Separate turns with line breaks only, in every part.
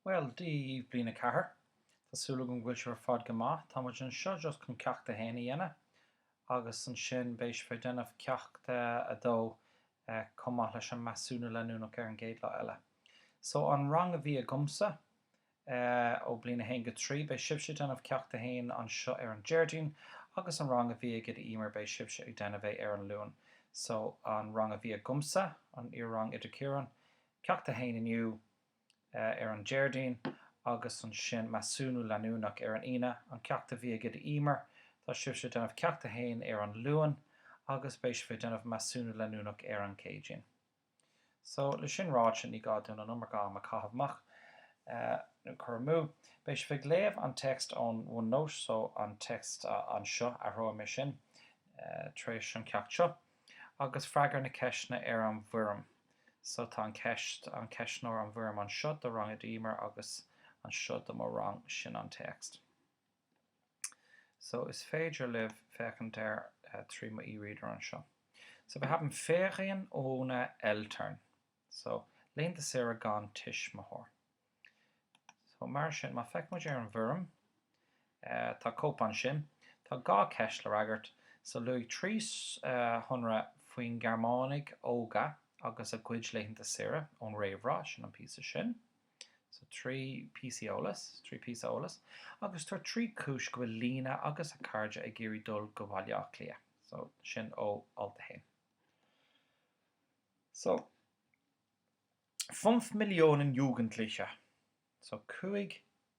Bhuel, Dia daoibh, bliain a ceathair. Tá súil agam go bhfuil sibh ar fad go maith. Tá muid anseo just chun Ceacht a hAon a dhéanamh agus ansin beidh sibh ag déanamh Ceacht a 2 chomh maith leis an Measúnú Leanúnach ar an gcéad lá eile. So an rang a bhí agamsa, ó bliain 1 go 3. Beidh sibhse ag déanamh Ceacht 1 anseo ar an Déardaoin agus an rang a bhí ag Oide Emer beidh sibhse ag déanamh é ar an Luan. So an rang a bhí agamsa, an iar-rang Oide Ciarán, Ceacht 1 inniu, ar an Déardaoin agus ansin Measúnú Leanúnach ar an Aoine. An ceacht a bhí ag Oide Emer, tá sibhse ag déanamh Ceacht 1 ar an Luan agus beidh sibh ag déanamh Measúnú Leanúnach ar an Céadaoin. So, le sin ráite, ní gá dúinn an iomarca am a caitheamh amach, cur amú. Beidh sibh ag léamh an text ón OneNote, so an text anseo, athróidh mé sin tar éis an ceacht seo, agus freagair na ceisteanna ar an bhfoirm. So, tá an ceist, an ceistneoir, an bhfoirm anseo do rang Oide Emer agus anseo do mo rang. Sin an text. So is féidir libh féachaint air trí mo e-reader anseo. So wir haben Ferien ohne Eltern. So laethanta saoire gan tuismitheoir. So mar sin, má feic muid ar an bhfoirm, tá cóip ansin. Tá dhá ceist le fhreagairt. So luaigh trí shonra faoin Gearmánaigh óga agus a gcuid laethanta saoire ón réamhrá, sin an píosa sin. So trí píosaí eolas, trí píosa eolas agus tabhair trí cúis go bhfuil Lina agus a cairde ag iarraidh dul go Bhaile Átha Cliath. So sin ó alt a haon. So Fünf Millionen Jugendliche. So cúig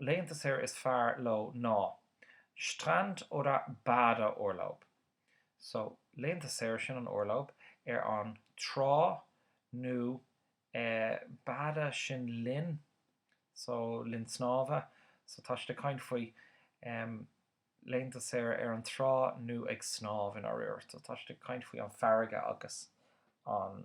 laethanta saoire is fearr leo ná Strand oder Badeurlaub. So, laethanta saoire, sin an Urlaub, ar an trá nó eh Bade sin linn, so linn snámha. So tá siad ag caint faoi em laethanta saoire ar an trá nó ag snámh i ndáiríre. So tá siad ag caint faoi an farraige agus an.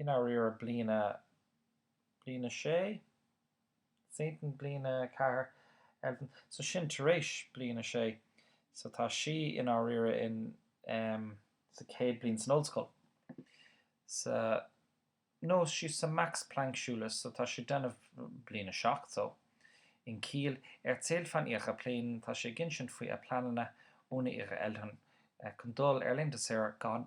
i ndáiríre bliain a bliain a 6 zehnten bliain a 4 elften so sin tar éis bliain a 6 so tá sí i ndáiríre in em sa chéad bliain san ollscoil sa no she's sa Max Planck Schule so tá sí ag déanamh bliain a 7 so in Kiel erzählt von ihren Plänen tá sí ag insint faoi a pleananna ohne ihre Eltern chun dul ar laethanta saoire gan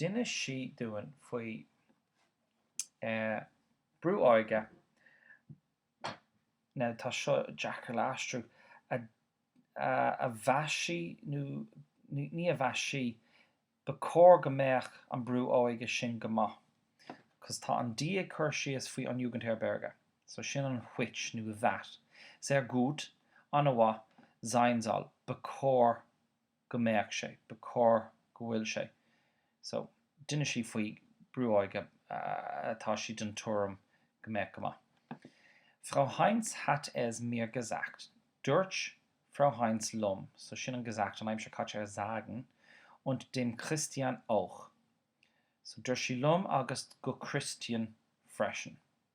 D'inis sí dúinn faoi brú óige, now tá seo deacair le aistriú, a mheas sí nó ní, a mheas sí, ba cóir go mbeadh an brú óige sin go maith, cos tá an die ag cur síos faoi an Jugendherberge, so sin an which nó that, sehr gut, an-mhaith, sein soll, ba cóir. go mbeadh sé. Ba chóir go bhfuil sé. So, d'inis sí faoi brú óige atá sí den tuairim go mbeadh go maith. Frau Heinz hat es mir gesagt, dúirt Frau Heinz liom, so sin an gesagt an aimsir caite ar sagen, und dem Christian auch. So, dúirt sí liom agus go Christian freisin.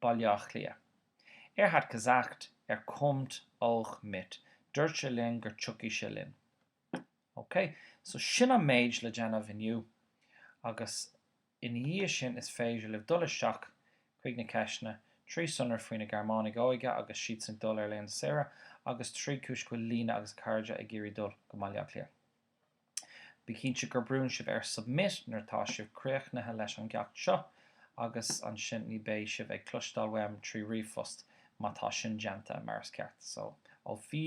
Baile Átha Cliath. Er hat gesagt, er kommt auch mit. Dúirt sé linn gur tiocfaidh sé linn. Ok, so sin an méid le déanamh inniu agus ina dhiaidh sin is féidir libh dul isteach chuig na ceisteanna, trí sonra faoi na Gearmánaigh óige agus siadsan ag dul ar laethanta saoire agus trí cúis go bhfuil Lena agus a cairde ag iarraidh dul go mBaile Átha Cliath. Bí cinnte gur brúnn sibh ar 'Submit' nuair atá sibh críochnaithe leis an gceacht seo agus ansin ní beidh sibh ag cloisteáil uaim trí ríomhphost má tá sin déanta mar is ceart. So, auf Wie.